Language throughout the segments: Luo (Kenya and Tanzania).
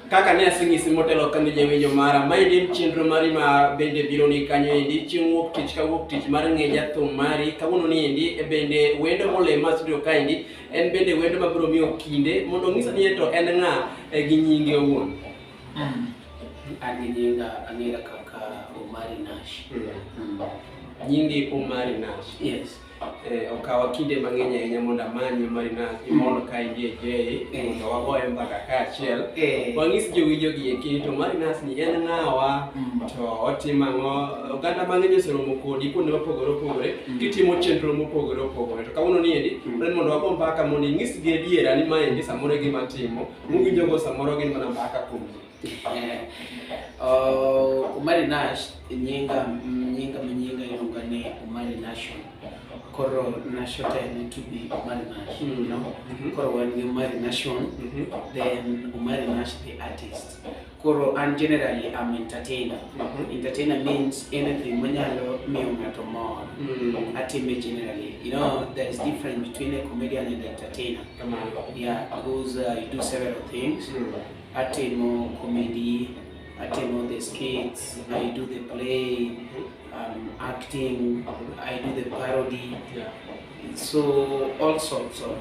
Kaka ne aseng'isi motelo kane jawinjo mara, maendi en chenro mari ma bende biro ni kanyo endi chieng' wuok tich ka wuok tich mar ng'eja thum mari kawuono ni endi e bende wendo molem ma studio ka endi en bende wendo mabiro miyo kinde mondo onyisa ni to en ng'a e gi nyinge owuon. An gi nyinga ang'era kaka Omari Nash. Nyingi Omari Nash. Yes. Eh, okawa kinde mang'eny ahinya mondo amanye Marinas imondo ka idie Jay eh. mondo wagoye mbaka kaachiel eh. wang'is jowinjo gi eki to Marinas ni en ng'awa mm. to otimo ang'o oganda mang'eny oseromo kodi kuonde mopogore opogore mm. gitimo chenro mopogore opogore to kawuono ni endi mm. en mondo wago mbaka mondo inyisgi adiera ni ma endi samoro e gima timo muwinjogo samoro gin mana mbaka kuom ji Uh, umari nash nyinga nyinga manyinga iluonga ni umari nation koro nation te need to be umari nash you know koro wan gi umari nation then umari nash the artist koro an generally am entertainer entertainer means anything manyalo miyo ng'ato mor atime generally you know there is difference between a comedian and entertainer yeah because uh, you do several things Atimo comedy, atimo the skits, I do the play, um, acting, I do the parody. Yeah. So all sorts of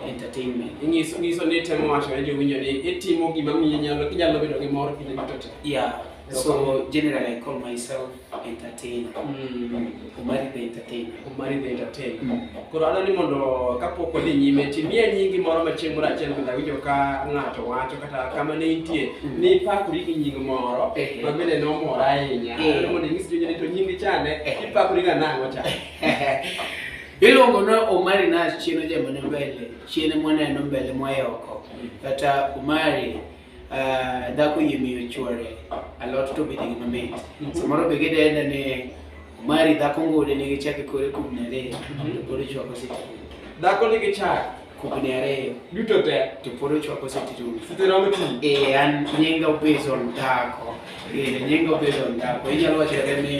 entertainment. Inyiso nyiso ni temo wacho ne jowinjo ni itimo gima miyo nyalo inyalo bedo gi mor kinde duto te. Yeah. So generally I call myself entertainer Mm. omari the entertainer Omari the entertainer. Mm. Koro adwaro ni mondo kapok wadhi nyime timie nyingi moro machieng' moro achiel kendo awinjo ka ng'ato wacho kata kama ne intie Mm. ni ipakori gi nying moro Ehe. ma bende nomora ahinya. Eh. Adwaro mondo inyis jonyuol ni to nyingi chande Eh. ipakori ga nang'o cha. iluongo ni omari na chieno jamane mbele chiene mwaneno mbele mwaye oko kata omari Ah, dhako yie miyo chwore alot to bende gima mit samoro be gidenda ni mari dhako ngode nigi chake kore kubni ariyo to pod ochwako siti Dhako nigi chak kubni ariyo duto te. to pod ochwako siti rumo Siti romo ti. Eh, an nyinga based on dhako Eh, nyinga based on dhako inyalo wachore ni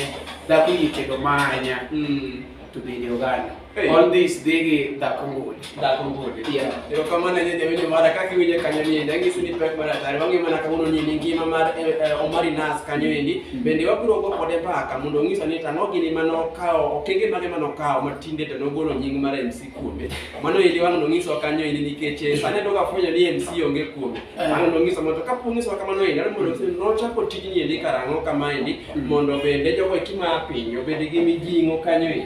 dhako yie tedo manya Mm. to bende oganda Hey. All this digi da kongul. Da kongul. Yeah. Yo kama na nyinyi wenye mara kaki wenye kanyo ni ndangi suni pe mara tari wangi mana kamuno ni ningi mama eh, eh, Omari Nas kanyo ni mm. bende waburo go kode pa kamundo ngisa ni tano gini mano kao okenge mane mano kao matinde to nogolo nying mara MC kuome. Mano ili wangu nongiso kanyo ni nikeche sane doka fanya ni MC onge kuome. Eh. Mano nongiso moto kapu ngiso kama no ina mundo ngisa no chapo tijini ndi karango kama ndi mm. mondo bende jogo kima pinyo bende gimi jingo kanyo ni.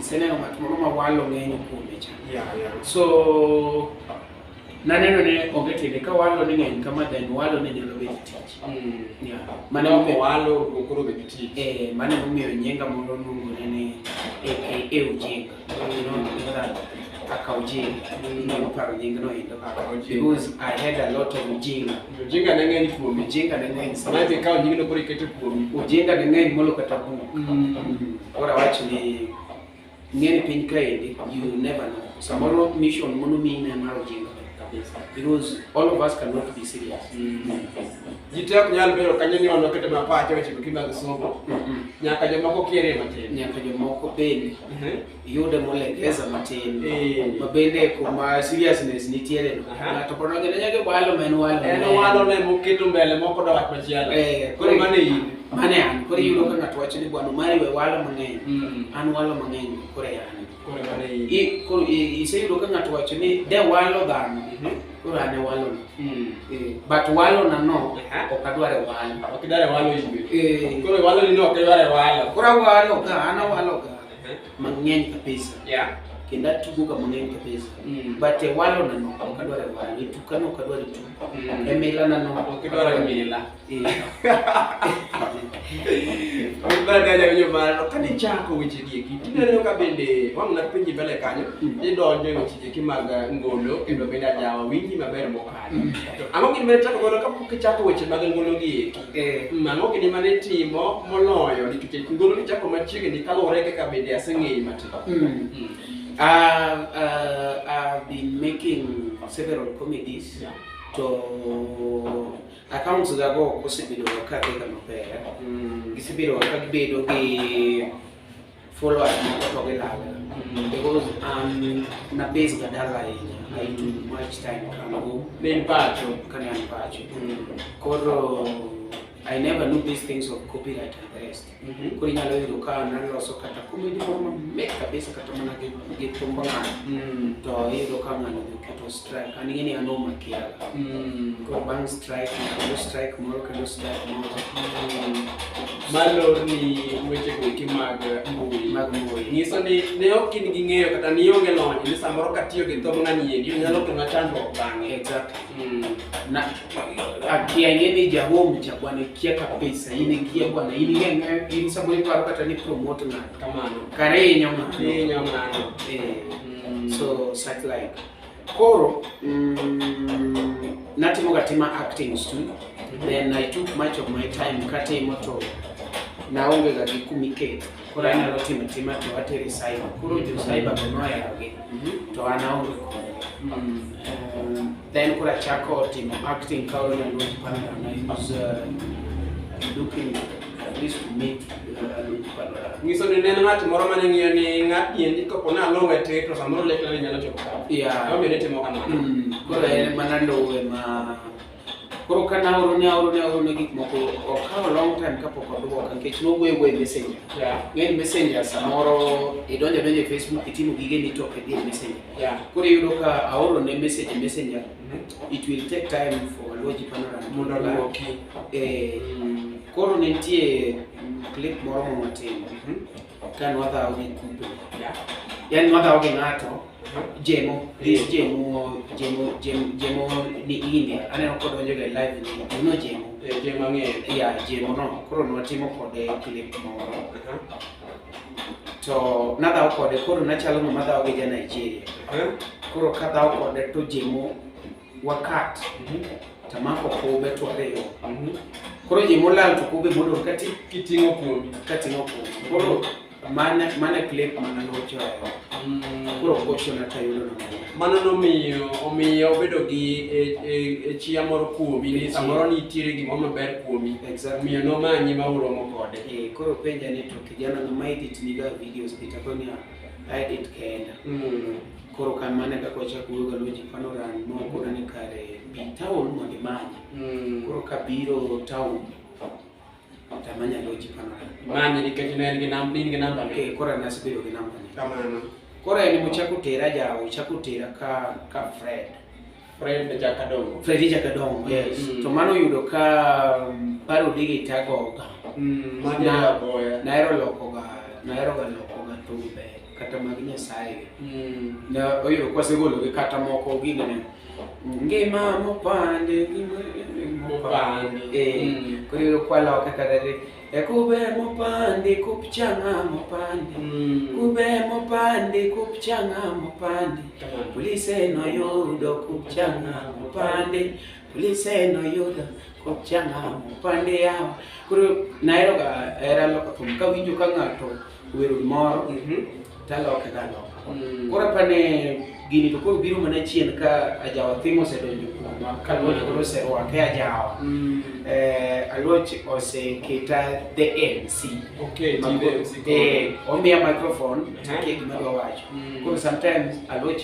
Seneno ng'at moro ma walo ng'enyo kuome cha. So naneno ne onge tiende ka walo ni ng'eny kama then walo ne nyalo bedo tich. Mm. Mane ok walo okoro bedo tich. Eh, mane omiyo nyenga moro nungore ni e e e ujinga. You know, mm. kaka ujinga. Mm. Ndio paro nyingno endo. Because I had a lot of ujinga. Ojinga ne ng'eny kuomi. Ojinga ne ng'eny sana. Maana ikawo nyingno koro iketo kuomi. Ojinga ne ng'eny molo kata buk. Mm. Koro awach ni ng'eny piny kaendi you never know. Samoro mission mono mi ne mar ojinga kabisa. Because all of us cannot be serious. Mm. Jite ok nyal bedo kanyo ni ono kete mapache weche mag somo. Mm-hmm. Nyaka jomoko kiere matin. Nyaka jomoko bende. Mm-hmm. yude molegeza matin eh. ma bende kuma seriousness nitiere no ng'ato pod ong'e ne nyaka walo ma en walo en walo ne moketo mbele moko da wach machielo eh, koro mane in mane an koro yudo ka ng'ato wacho ni bwana mari we walo mang'eny hmm. an walo mang'eny koro an koro mane in koro iseyudo ka ng'ato wacho ni de walo dhano mhm. koro an e walo hmm. eh, but walo na no ok adware walo ok idware walo in koro walo ni no ok idware walo koro walo ka an awalo ka mang'eny kabisa Yeah. kendo atugoga mang'eny kabisa Mm. but e walonano ok adwar e walo e tukano ok adwar e tuk Mm. e milanano Ok idwar e mila. Eh, Mibadala winyo mano kane chako weche dieki tineno ka bende wang' na penji mbele kanyo Mm. idonjo e weche dieki mag eh, ngolo kendo bende ajawa winji maber mokalo to ang'o gima ichako godo kapok ichako weche mag ngolo gieki Eh, mano kinde mane timo moloyo nikech ngolo ni chako machiegni kaluwore kaka bende aseng'eyi matin mm. mm. uh, uh, I've been making several comedies yeah. to accounts gago osebedo ka kaka maber mm. gisebedo ka gibedo gi followers moko to gilal because um, na base badala yenye I do much time can go then pacho kani an pacho koro I never knew these things of copyright and the rest mm-hmm. koro inyalo yudo ka naloso kata comedy moro mamit kabisa kata mana gi thumbo ng'ano mm. to iyudo ka ng'ano strike an ing'e ni an omakiaga mm. koro bang' strike kendo strike moro kendo strike moro mm. malor ni weche goeki mag mbui mag mbui nyiso ni ne ok in gi ng'eyo kata ni onge lony ni samoro katiyo gi thom ng'ani endi onyalo kona chandruok bang'e mm. na akia ing'e ni jahom cha bwana ikia kabisa in ikia bwana in ing'e in samoro iparo kata ni promote ng'ato kamano kare inyo ng'ato inyo ng'ato eh. so such like Koro mm, natimo gatima acting studio then I took much of my time katimo to naonge ga gi kumiketo koro anyalo timo tima to atere cyber koro jo cyber go noyarogi mhm. to an aonge kodgi mm. eh, then koro achako timo acting ka onyalo panda na use uh, looking at least to meet ngiso ni neno ng'at moro mane ng'iyo ni ng'at niendi kopo ni aluwe ti to samoro lekna ni nyalo chopo ka yeah. omiyo nitimo kamano mm. koro en mana ndowe ma koro ka naoro ne aoro ne aoro ne gik moko okawo long time kapok odwoka nikech nowuoyo wuoyo e messenger yeah. ng'eny messenger samoro idonjo donjo e facebook itimo gige ni to ok idhi e messenger yeah. koro iyudo ka aoro ne message e messenger it will take time for Luoji Panorama mondo oloki. Eh, koro nitie clip moro ma watimo mhm. ka nwadhawo gi kupe. Yaani nwadhawo gi ng'ato mhm. jemo this eh. jemo jemo jemo jemo ni ine aneno kod onjo ga live ni uno jemo eh, jemo ng'eyo ya jemo no koro nwatimo kode clip moro mhm. to nadhawo kode koro nachalo ng'ama dhawo gi ja Nigeria Eh? koro kadhawo kode to jemo wakat Mhm. tamako kube to ariyo Mhm. koro jemo lal to kube modong' kati Kiting'o kuomi. kating'o kube koro mane mane clip mana nochoyo Mm. koro kochona tayudo nomanya Mano nomiyo omiyo obedo gi e- e- e chia moro kuomi ni samoro nitiere gimoro maber kuomi. Exactly. Omiyo nomanyi ma uromo kode. Eh, koro penja ni kijana na ma edit niga videos pita koni a edit kenda mm. koro kan mane kaka wachako wuoyo galoji panoran moko nane kare bi town mondo imanye mm. koro kabiro town tamanya loji panoran manye nikech ne en gi namba in gi namba ne eh, koro nasebedo gi namba ne kamano koro en mochako tera jawo chako tera ka ka Fred Fred Jakadongo. Fred Jakadongo, mm, yes. Mm. To mano yudo ka um, paro digi tago ga. Mm, ma ja boya. Na ero loko ga, na ero ga loko ga to be kata mag Nyasaye. Mm. Na oyudo kwa segolo gi kata moko gine ne. Ngima mopande, ngima mopande. Eh, mm. kuri kwa loka kata Ekube mopandi kupchanga mopandi mm. kube mopandi kupchanga mopandi polise noyudo kupchanga mopandi polise noyudo kupchanga mopandi yawa koro naheroga hera loko thum kawinjo ka ng'ato Werul moro mhm. taloke galoka. Mm. Koro apane gini to koro biro mana chien ka ajawa thimo osedonjo kuoma ka luoch koro oserwake ajawa. Mm. Eh, aluoch oseketa the MC. Okay, the MC. Eh, omiya microphone to ke gima dwa wacho. Mm. Koro sometimes aluoch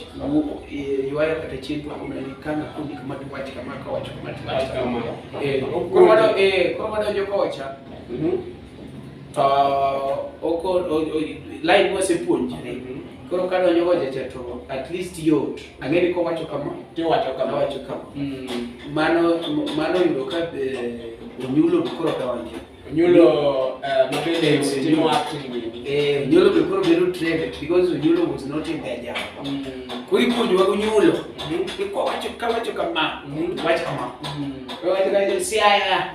eh, yuayo kata chien to kuna ni kana kundi kama tu wacho kama ka wacho kama tu wacho. Eh, koro wadonjo kocha. Mhm. to oko line wasepuonjore koro ka donjo go jecha to at least yot ang'e ni kowacho kama tiwacho kama wacho kama mm. mano mano yudo ka eh, onyulo koro donjo Onyulo uh, mabende timo acting eh Onyulo be koro bedo trended because Onyulo was not in their job mm. kuri kundi wa Onyulo mm-hmm. iko wacho kama wacho kama mm-hmm. wacho kama mm-hmm. wacho kama siaya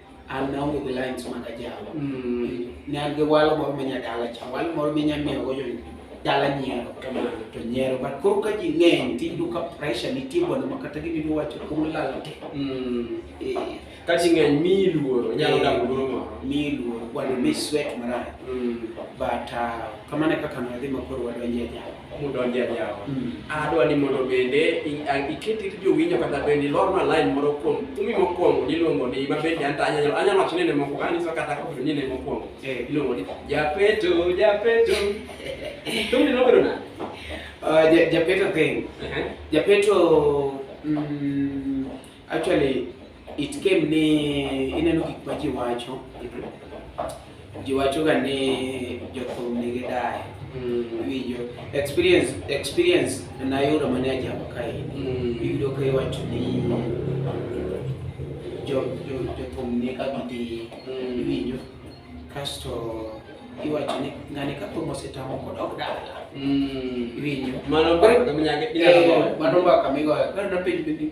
an naonge gi lines mag ajalo mm. ne an gi walo moro ma nyadala cha walo moro minyamiyogo jo dala nyiero kamano to nyiero but koro ka ji ng'eny tiyudo ka pressure nitie bwana ma kata gibiro wacho kuom lalo te mm. eh. ka ji ng'eny miyi luoro nyalo eh. dago luoro moro miyi luoro bwana mi sweat marach mm. but ah, kamano e kaka nadhi ma koro wadonje ajalo mudonje yawa mm. adwa ni mondo bende iket it jowinjo kata bende ilorna line moro kuom kumi mokwongo niluongo ni ma bende anta anyalo anyalo wacho ni ne moko kani so kata ko ni ne mokwongo eh. iluongo ni japeto japeto to ni nobero na uh, japeto thing uh-huh. japeto mm, Actually, it came ni ineno gik ma ji wacho. Ji wachoga ni jothum nigi dayo. Iwinjo. Experience, experience nayudo mane ajamo kaeni. Iyudo ka iwacho ni jo- jo- jothum ni ka gidhi. Iwinjo. Kasto iwacho ni ng'ani ka thum osetamo kod ok dala. Iwinjo. Mano mbaka minyalo Eh, mano mbaka migoyo. Koro napenjo ni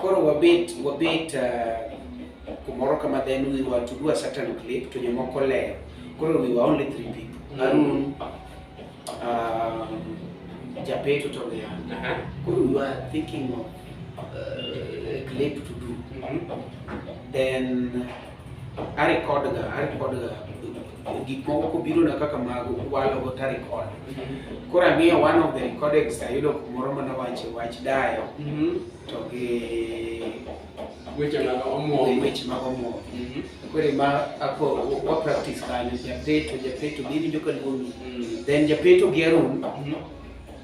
Koro wabet wabet uh, kumoro kama then we were to do a certain clip to jomoko leyo. Koro we were only three people. Mm. Arun, um, Japeto to the end. Uh-huh. Koro we were thinking of uh, a clip to do. Mm-hmm. Then arekodga arekodga gik moko kobirona kaka mago walogo tarekod koro ang'iyo one of the recordings ayudo kumoro mana wache wach dayo Mhm. to gi Weche mag omwom. weche mag omwom Mhm. kore ma ako wa practice kanyo japeto japeto biwinjo ka luongi Mm. then japeto gi arun Mhm.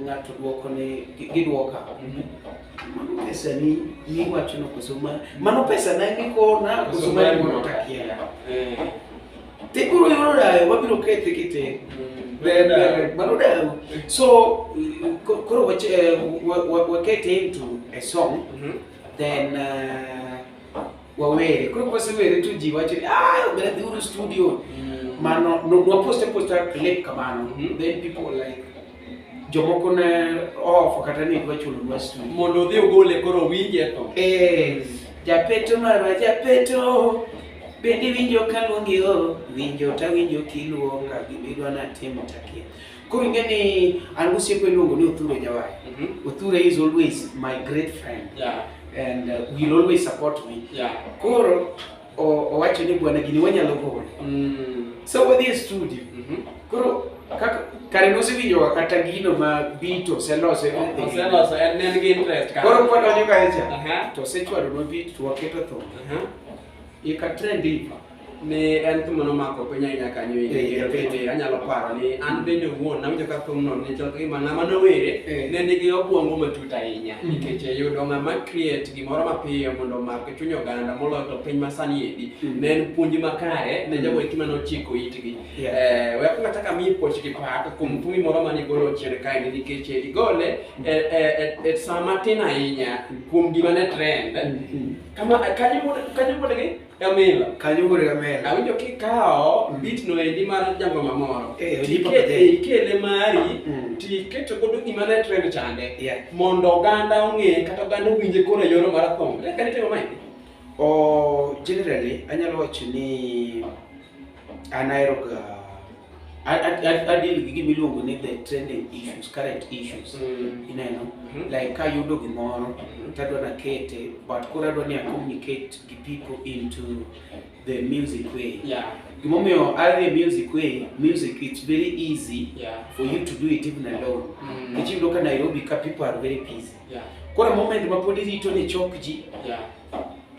ng'ato dwoko ni gidwoka mano pesa ni miwacho no koso mano pesa na mikona koso ma mono takia eh. te koro yoro dayo wabiro kethe kite mm. mano dayo so koro wakete into a song mm-hmm. then uh, wawere koro kwasewere to ji wacho ni ah obera dhi uru studio mm. mano nwaposte posta clip kamano mm-hmm. then people like jomoko ne oofo kata ni dwa chulo nwa studio mondo odhi ogole koro winje to eh japeto marwa japeto bende winjo kaluongi o winjo tawinjo kiluonga gimidwa natimo takia Koro ing'e ni an gosiepo iluongo ni Othure Jawai. Mm -hmm. Othure is always my great friend. Yeah. And uh, will always support me. Yeah. Koro owacho ni bwana gini wanyalo gole. Mm. So wadhi e studio. Mm -hmm. Koro kaka kare nosewinjoga kata gino ma bito oselose oselose en en gi interest koro kwadonjo kacha to osechwadonwa bit to waketo thum Ye ka trend ipa ni en thum mano mako piny ahinya kanyo Eh, inde kendo jathum. bende anyalo paro ni an bende wuon nawinjo ka thumno ni chal kagima ng'ama nowere Eh. ne nigi obwongo matut ahinya Mhm. nikech yudo ng'ama create gimoro mapiyo mondo omak e chuny oganda moloyo to piny masani endi Mhm. ne en puonj makare ne Mhm. jogo eki mane ochiko itgi Yeah. Eh, we akwongo achako amiyi puoch gi pak kuom thumi moro mane igolo chien kaendi nikech igole e- e- e- e sa matin ahinya kuom gima ne trend Mhm. Kama kanyo wuod kanyo wuod gi Gamila. Kanyo wuod Gamila. Awinjo kikawo mm. bit no endi mar jango mamoro. Eh, tikete ikele mari mm. tiketo godo gima ne trend chande. Yeah. Mondo oganda ong'e kata oganda owinje koro e yor mar thum. Leka ni timo mai. O generally anyalo wacho ni An aheroga adil gi gima iluongo ni the trending issues, current issues. Mm. Ineno? Mm-hmm. Like ka yudo gimoro mm-hmm. to adwa nakete but koro adwa ni a communicate gi people into the music way. Yeah. Gimomiyo adhi music way, music it's very easy yeah. for you to do it even alone. Mm. Nikech yudo ka Nairobi ka people are very busy. Yeah. Koro moment ma pod irito ni chok ji. Yeah.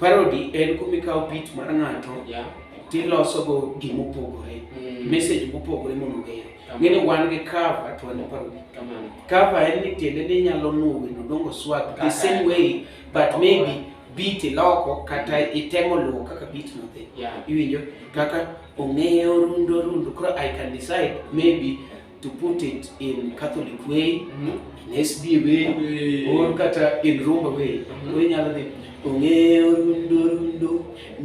Parody en kuma ikawo pit mar ng'ato yeah. tilosogo gima opogore mm. message mopogore mondo ogere ng'eni wan gi cover to wan parody cover en ni tiende ni inyalo nuo wendo dongo swag the same way but maybe beat iloko kata mm. itemo luwo kaka beat no dhi yeah. iwinjo kaka ong'eyo rundo rundo koro i can decide maybe to put it in Catholic way, mm -hmm. in SB way, way, or kata in Rumba way. Mm -hmm. nyalo dhi ong'eyo rundo rundo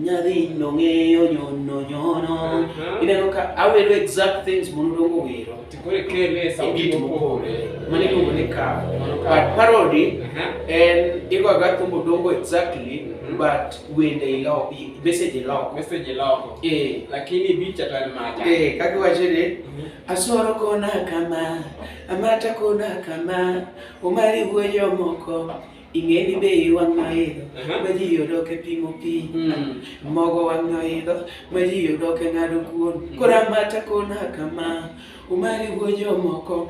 nyadhi nong'eyo nyono nyono. Uh-huh. Ineno ka awero exact things mondo dongo wero. Tikore kele e sauti mopogore. Mane iluongo ni cover. But parody uh-huh. en igo aga thumbo dongo exactly mm-hmm. but wende iloko message iloko message iloko eh lakini bicha tan macha eh kakiwache ni Asworo kona kama, amata kona kama, omari wuoyo moko ing'eni be iwang' noidho ma ji yodoke pimo pi hmm. mogo wang' noidho ma ji yodoke ng'ado kuon hmm. kora mata kona kama umari wuoyo moko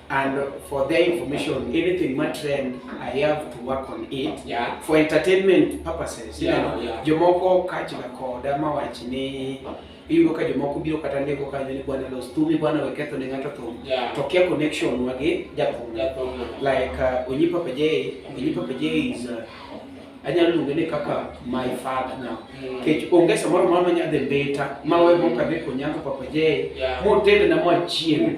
And for their information, anything my trend, I have to work on it. Yeah. For entertainment purposes. Yeah, you know, yeah. Jomoko kachi na koda mawachi ni iyudo ka jomoko biro kata ndiko kanyo ni bwana los thumi bwana weketho ne ng'ato thum yeah. to kia connection wagi jathum like uh, onyipa pejei onyipa pejei is uh, anyalo luonge ni kaka my father now mm. kech onge samoro moro manya dhi mbita ma we mok adhi konyango papa jay motende na mwachiem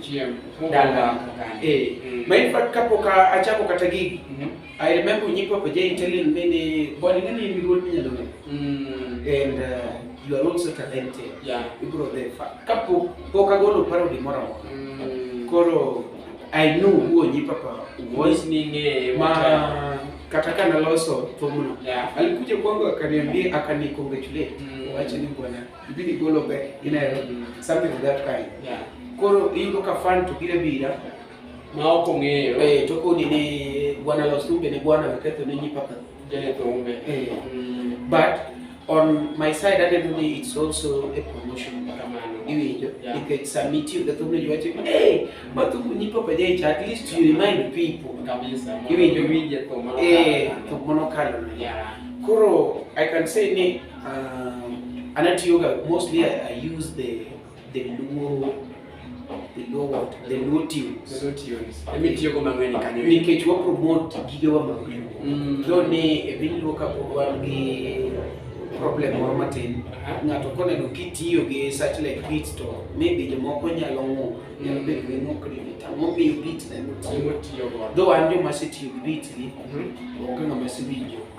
dala eh mm. ma in fact kapok achako kata gigi mm-hmm. i remember nyi papa jay telling me ni body ngani ni ruol minyalo ng'e mm. and uh, you are also talented yeah ibro the fact kapok pok agolo paro di moro moro mm. koro i know who nyi papa was ni ng'e ma kata ka naloso thumno yeah. alikuja kwangu akaniambia akani congratulate mm. wacha ni bwana ibidi golo be in Nairobi mm. something of that kind yeah. koro iyudo ka fan to bire bira ma ok ong'eyo eh to kodi ni bwana los thumbe ni bwana waketho ne nyipaka jene thumbe eh mm. but on my side aneno ni it's also a promotion kamano iwinjo nikech sama itiyo gi thumno ji wacho hey mathumbu nyipo pa jaicha at least you remind people iwinjo winje thum eh thum mono kalo koro i can say ni um, anatiyoga mostly I, i use the The Luo the Luo what? The Luo tunes. The Luo tunes. Emi tiyo go mang'eny kanyo. Nikech wa promote gigewa mag Luo. Mm. Though ne e piny Luo ka pod wan gi problem moro matin. Ng'ato koneno kitiyo gi such like beat to maybe jomoko nyalo ng'ur. Nyalo bedo ni ng'ur kri beat. Ang'o miyo beat na emo tiyo? Though an joma asetiyo gi beat gi, mhm. onge ng'ama asewinjo.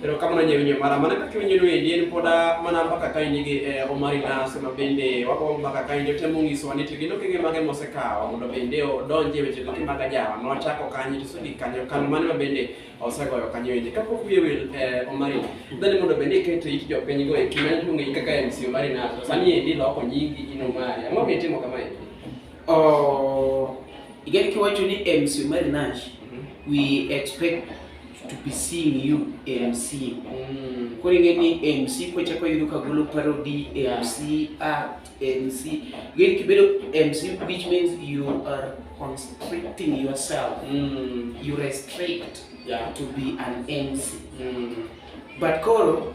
pero kamano nyewinyo mara mana kaka iwinjono endi en pod mana mpaka ka in gi eh, omari nas ma bende wakwongo mpaka ka in jotemo nyisowa ni to gin okenge mage mosekawo mondo bende odonje weche goki mag ajawa nochako kanyo to sudi kanyo kano mane ma bende osegoyo kanyo endi kapok wiye wil eh, omari dhani mondo bende iketo it jopiny go e kima nitong'eyi kaka mc omari nas to sani endi loko nyingi in omari ang'o mitimo kama endi Oh, igari kiwacho ni MC Omari Nash, mm-hmm. we expect to be seeing you MC. Mm. Koro ing'e ni MC kochako yudo ka golo parody, MC act, MC. Igari kibedo MC which means you are constricting yourself. Mm. You restrict yeah. to be an MC. Mm. But koro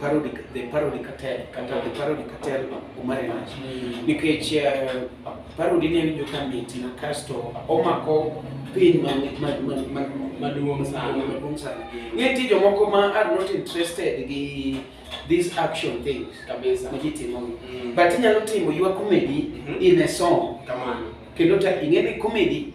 parody the parody cartel kata the parody cartel omare lach nikech eh, parody ne winjo ka mit na kasto omako piny maduong' sana maduong' sana nitie jomoko ma are not interested gi these action things kabisa ma ji timo mm. but inyalo timo your comedy mm-hmm. in a song kendo ta ing'e ni comedy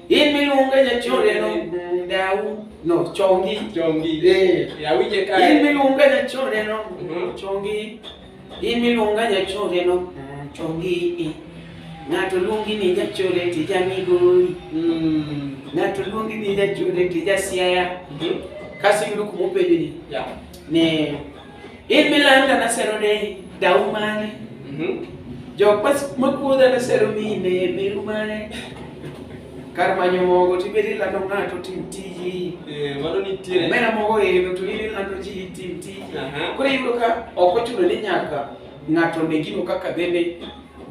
In miluongo e jachode no dau no chongi chongi eh ya wije ka in miluongo e jachode no mhm. chongi in miluongo e jachode no mm, chongi eh. ng'ato luongi ni jachode tija migori mm. ng'ato luongi ni jachode tija siaya mhm. kasi yudo kumopenjo ni ne In milayo ka nasero ne dau mane? Mhm. Jok mas- makuodha nasero mine meru mane? Kar manyo mogo tibedi ilando ng'ato tim tiji. Eh, mano nitiere. Omera mogo ero to in ilando ji tim tiji. Aha. Koro iyudo ka ok ochuno ni nyaka ng'ato ne gino kaka bende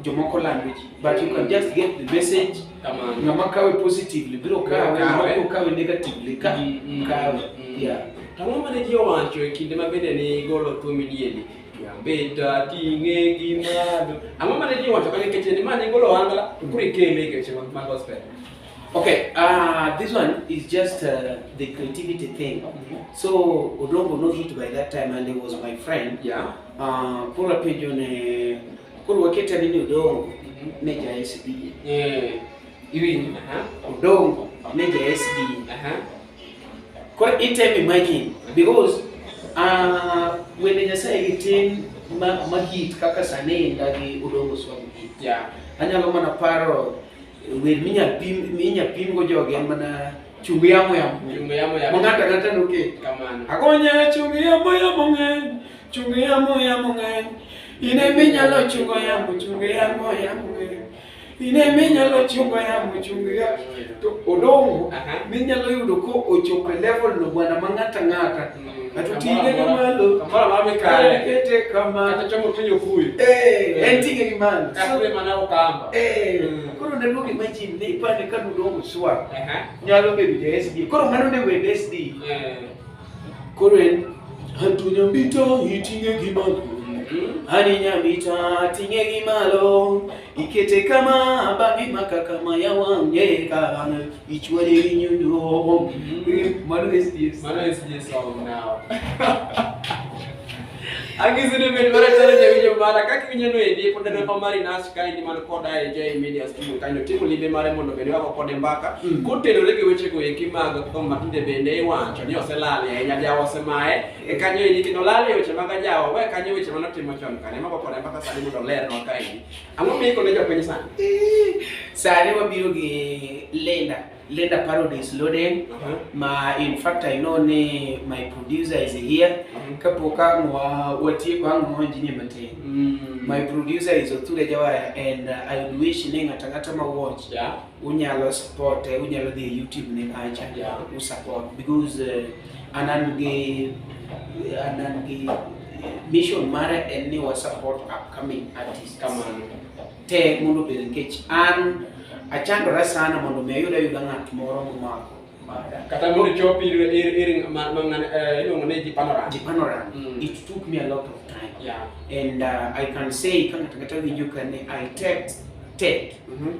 jomoko lando ji. But you can just get the message Kamano. ng'ama kawe positively biro kawe Biro kawe. ng'ama biro kawe negatively ka Mm, mm, kawe mm. yeah To ang'o mane ji owacho e kinde ma bende ne igolo thum idieni? Kiambeta ting'e gi malo. Ang'o mane ji owacho kane keche ni ma ne igolo wangla to koro ikele e keche mag mag gospel. okay uh, this one is just uh, the creativity thing so odongo not hit by that time and he was my friend Yeah. uh, koro apenjo ne Koro wakete ni Odongo ne ja SDA. Eh, iwinjo? Aha. Odongo ne ja SDA. Aha. Koro item imagine because uh, wende Nyasaye gi tin ma, ma hit kaka sani ndagi Odongo Swami hit. Yeah. Anyalo mana paro wer minyal pim minyal pim go jogi en mana Chungu yamo yamo. Chungu yamo yamo. Mongata ngata ndoke. Kamano. Akonya chungu yamo yamo ng'eny. Chungu yamo yamo ng'eny. Ine minyalo chungo yamo chungu yamo yamo ng'eny. Ine minyalo chungo yamo chungu yamo. To odongo minyalo yudo ko ochopo level no bwana mangata ngata. Atutinge gi malo. Kamoro amora mikale. Kete kama. Kata chomo tinyo kuyi. Eh, en tinge gi malo. Kakre mana okamba. Eh. Mm. Koro ne luongi imagine ne ipande ka nudo muswa. Nyalo bedo ja SD. Koro mano ne wend SD. Eh. Koro en Antunya mbito itinge gi malo. Mm-hmm. Ani nyamita tinge gi malo. Ikete kama bangi makaka maya wange kana. Which one do you know? Mano is this. Mano is this song now. Akizidi mbele tena jamii jomara kaki vinyano edi pod ne pamari nas ka indi man koda e jai media studio kanyo timo limbe mare mondo bende wako kode mbaka mm. kotenore gi weche go eki mag kom matinde bende iwacho ni oselal ya nya jawo semae e kanyo indi kino lal e weche mag jawo we kanyo weche manotimo chon kane mako kode mbaka sani mondo ler no ka indi Ang'o miiko ne jopiny sani? Sani wabiro gi Linda. Linda Paradise Loden uh -huh. ma in fact I know ni my producer is here uh -huh. kapok ang' watieko ang' waonjini matin mm. my producer is Othure Jawaya and uh, I would wish ni ng'ata ng'ata ma watch yeah. unyalo support unyalo dhi YouTube ne kacha yeah. usupport because uh, An an gi an an gi mission mare en ni wa support upcoming artists kamano te mondo obed nikech an achandora sana mondo mi ayud ayuda ng'at moro momako bada. Kata mondo chop ir ir ir ma ma ng'ane eh, iluongo ni jipanorama. Jipanora, Mm. it took me a lot of time. Yeah. And uh, I can say kama takata winjo kane I take take Mhm.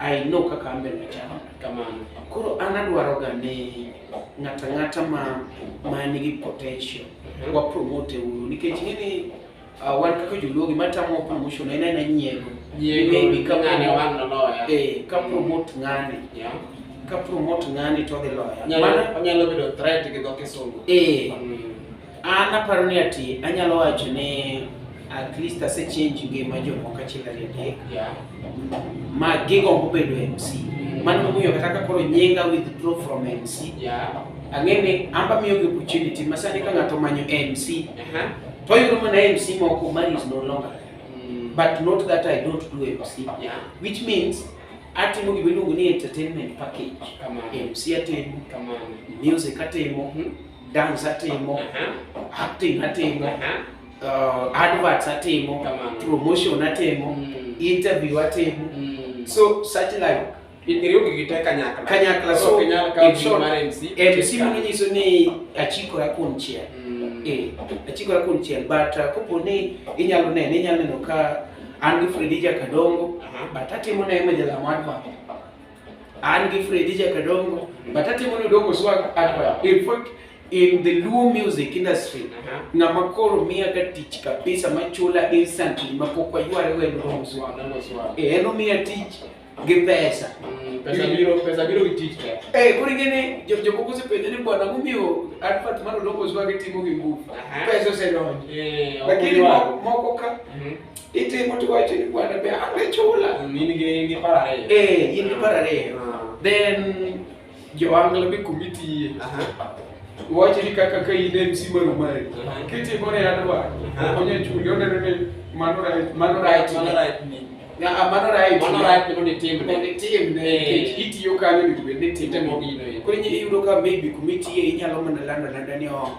I know kaka ambe nachano kamano. Koro an adwaro ga ni ng'ata ng'ata ma ma nigi potential mhm. wa promote uru nikech ng'eni uh, wan kaka joluo gima tamo promotion en aena nyiego maybe ka ng'ani wan noloya eh ka promote ng'ani yeah. ka promote ng'ani to dhi loya onyalo bedo threat gi dho kisungu eh mm. An aparo ni ati anyalo wacho ni at least ase change ngima jomoko achiel ariyo adek ma gigombo bedo MC. Mano momiyo kata ka koro nyinga withdraw from MC. Ang'e ni amba miyo gi opportunity ma sani ka ng'ato manyo MC to oyudo mana MC moko man is no longer mm. but not that I don't do MC which means atimo gima iluongo ni entertainment package MC atimo music atimo hmm? dance atimo uh-huh. acting atimo uh-huh. uh, adverts atimo promotion atimo mm. interview atimo mm. so such like kanyakla so mc mano nyiso ni achikora kuom chiel mm. eh, achikora kuom chiel but uh, kopo ni inyalo neno inyalo neno ka an gi fredija kadongo uh-huh. but atimo ne ema jalamo advert An gi Fredi Jakadongo, but atimo ni Odongo Swag at in fact in the Luo music industry uh-huh. ng'ama koro miya ga tich kabisa machula instantly mapok wayware wendo Odongo Swag. Eh, en omiya tich gi pesa. Mm, pesa biro pesa biro gi tich ka. Eh, kuri gini jo jo koko se pende ni bwana mumiyo advert mano logo zwa gi timo gi nguvu. Pesa se donjo. Eh, lakini moko ka mhm. Itimo to wacho ni bwana be ang'e chula. Mm, in gi in gi par ariyo. Eh, in gi par ariyo. Ah. Then joangla be committee. Aha. Wacho ni kaka ka in MC mar Omari. Kitimo ne adwa. Onye chuli oneno ni mano right, mano right, mano right ni. Na ah, mano right. Mano right ni ni tim. Ni tim ne eh. itiyo kanyo ni be ni tim. Temo gino. Kwenye iyudo ka maybe committee inyalo mana landa landa ni oh.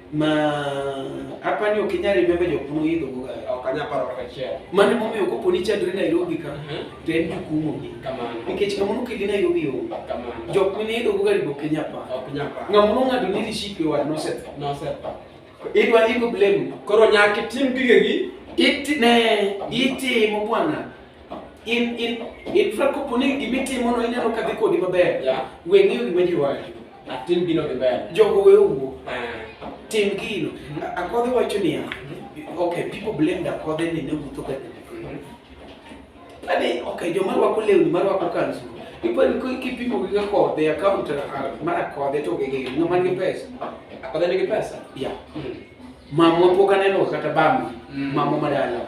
ma apani ok inyal remember jok ma oidho go ga ok anyal paro kata achiel mane momiyo kopo ni chandri Nairobi ka mhm. to en jukumo gi kamano nikech ng'ama nokeli Nairobi o kamano jok mane idho go ga ribo ok inyal paro ok inyal paro ng'ama nong'ado ni rishik e wad nosetho nosetho idwa ibo blame koro nyaka itim gigegi iti ne itimo bwana in in in fra kopo ni gima itimono inyalo kadhi kodi maber yeah. weng'eyo gima ji wacho Atim gino gi ber. Jogo we owuo. Ah. Tim gino. Akodhe wacho niya. Okay, people blame the Akodhe ni ne wuotho ka Ani, okay, joma rwako lewni ma rwako kanzu. Ipo ni ko kipimo gi Akodhe account ah, mar Akodhe to gi ng'ama nigi pesa. Akodhe nigi pesa? Yeah. Mm. Mamwa pok aneno kata bambi. Mm. Mamwa madala.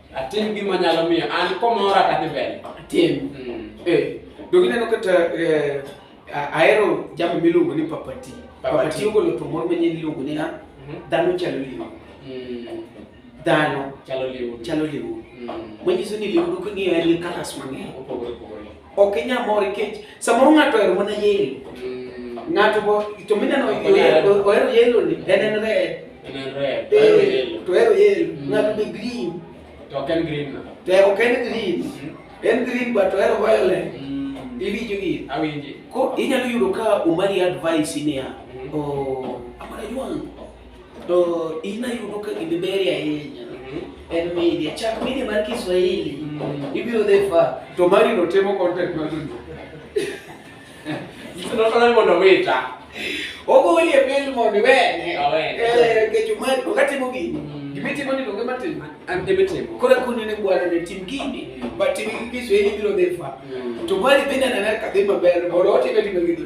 Atim gima nyalo miyo an komora kadhi mbele. Atim. Mm. Eh, dogi neno kata eh, ahero jambo miluongo ni papati. Papati ogolo to moro manyien iluongo ni na mhm. dhano chalo liu. Mm. Dhano chalo liu. Chalo liu. Mm. Manyiso ni liu king'iyo en gi kalas mang'eny. Opogore opogore. Ok inyal mor nikech samoro ng'ato ohero mana yelo. Mm. Ng'ato bo to mineno ohero yelo ni en en red. En en red. Eh, to ohero yelo. Mm. Ng'ato be green. To ok en green. To ok en green. Mm. En green but ohero violet. Iwinjo gi? Awinji. Ko inyalo yudo ka umari advice niya. Oh, amara jwangu. To in ayudo ka gini beri ahinya. Mhm. En media. Chak media mar Kiswahili. Mhm. Ibiro dhi fa. To mari no temo content mar dundo. Ito no tolani mondo wita. Ogo wili e pil mondo wene. Awene. Eh, kecho mari. Okatimo gini. Mhm. Gimitimo ni donge matimo. An debe timo. Kora kuni ni bwana ni tim gini. But tim Kiswahili biro dhi fa. To mari bende ananaka dhi maber. Mondo otime timo gini.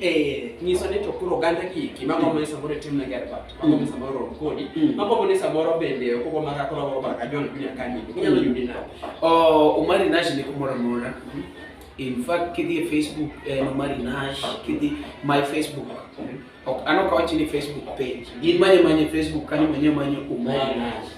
Eh, nyiso ni to koro oganda gi ki ma gombo ni samoro itim ne ger bat ma gombo samoro rom kodi Mm. ma gombo ni samoro bende ok ogombo kaka koro ba ka jon kunya kanyi inyalo Mm. yudi na Oh, Omari Nash ni kumoro amora. In fact, kidhi e Facebook en Omari Nash, kidhi my Facebook. Ok, an ok awachi ni Facebook page. In manye manye Facebook kanyo manye manye Omari Nash.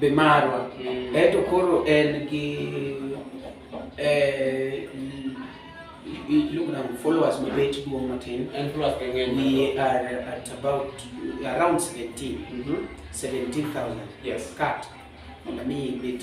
be marwa mm. eto koro en gi eh, iluongo nango followers mabet duong' matin we are at about around 17 mm -hmm. 17000 yes cut mondo mi ibet